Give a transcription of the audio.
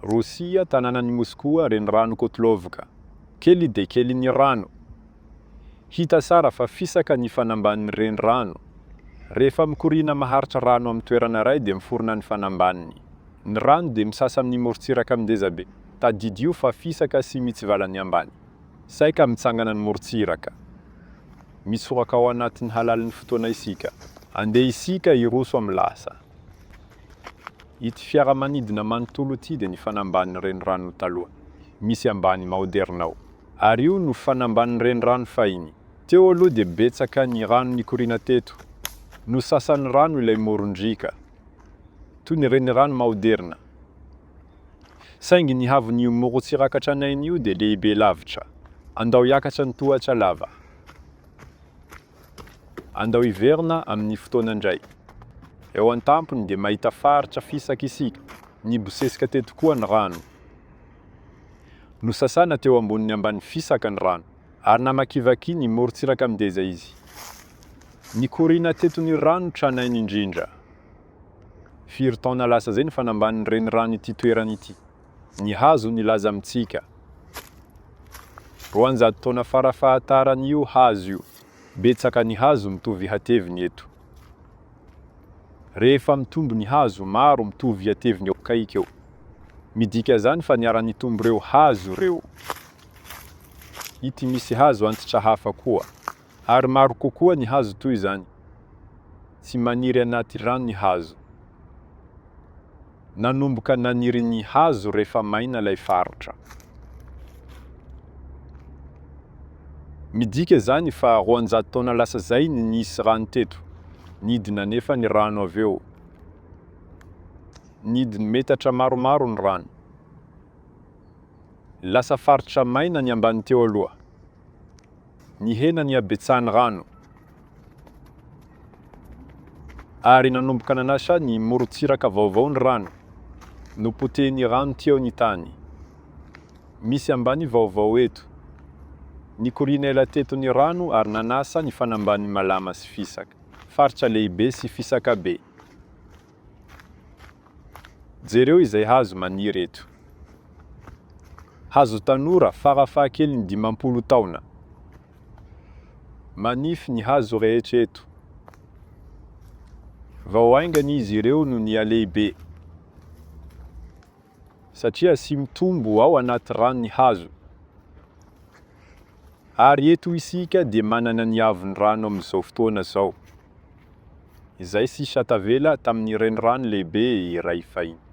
Rosia, tanànan'i Moskoa, Renirano Kotlovka. Kely dia kely ny rano. Hita sara fa fisaka ny fanambanin'ny renirano. Rehefa mikoriana maharitra rano amin'ny toerana iray dia miforona ny fanambaniny. Ny rano dia misasa amin'ny morontsiraka mindezabe. Tadidio fa fisaka sy mitsivala ny ambany. Saika mitsangana ny morontsiraka. Misoraka ao anatin'ny halalin'ny fotoana isika. Andeha isika hiroso amin'ny lasa. Ity fiaramanidina manontolo ity dia ny fanambanin'ny renirano taloha, misy ambany maoderina ao. Ary io no fanambanin'ny renirano fahiny. Teo aloha dia betsaka ny rano nikoriana teto. Nosasan'ny rano ilay moron-driaka, toy ny renirano maoderina. Saingy ny haavon'io morontsirakatra an'aina io dia lehibe lavitra. Andao hiakatra ny tohatra lava. Andao hiverina amin'ny fotoana indray. Eo an-tampony dia mahita faritra fisaka isika. Nibosesika teto koa ny rano. Nosasana teo ambonin'ny ambany fisaka ny rano, ary namakivaky ny morontsiraka mideza izy. Nikoriana teto ny rano tranainy indrindra. Firy taona lasa izay ny fanambanin'ny renirano ity toerana ity? Ny hazo nilaza amintsika. Roanjato taona fara fahataran'io hazo io. Betsaka ny hazo mitovy hateviny eto. Rehefa mitombo ny hazo, maro mitovy hateviny eo akaiky eo. Midika izany fa niara-nitombo ireo hazo ireo. Ity misy hazo antitra hafa koa. Ary maro kokoa ny hazo toy izany. Tsy maniry anaty rano ny hazo. Nanomboka naniry ny hazo rehefa maina ilay faritra. Midika izany fa roanjato taona lasa izay ny nisy rano teto. Nidina anefa ny rano avy eo. Nidiny metatra maromaro ny rano. Lasa faritra maina ny ambany teo aloha. Nihena ny habetsahan'ny rano ary nanomboka nanasa ny morontsiraka vaovao ny rano. Nopotehin'ny rano teo ny tany. Misy ambany vaovao eto. Nikoriana ela teto ny rano ary nanasa ny fanambanin'i Malama sy Fisaka. Faritra lehibe sy fisaka be. Jereo izay hazo maniry eto. Hazo tanora farafahakeliny dimampolo taona. Manify ny hazo rehetra eto. Vao haingana izy ireo no nihalehibe. Satria asia mitombo ao anaty rano ny hazo. Ary eto isika dia manana ny avon'ny rano amin'izao fotoana izao. izay sisa tavela tamin'ny renirano lehibe iray fahiny.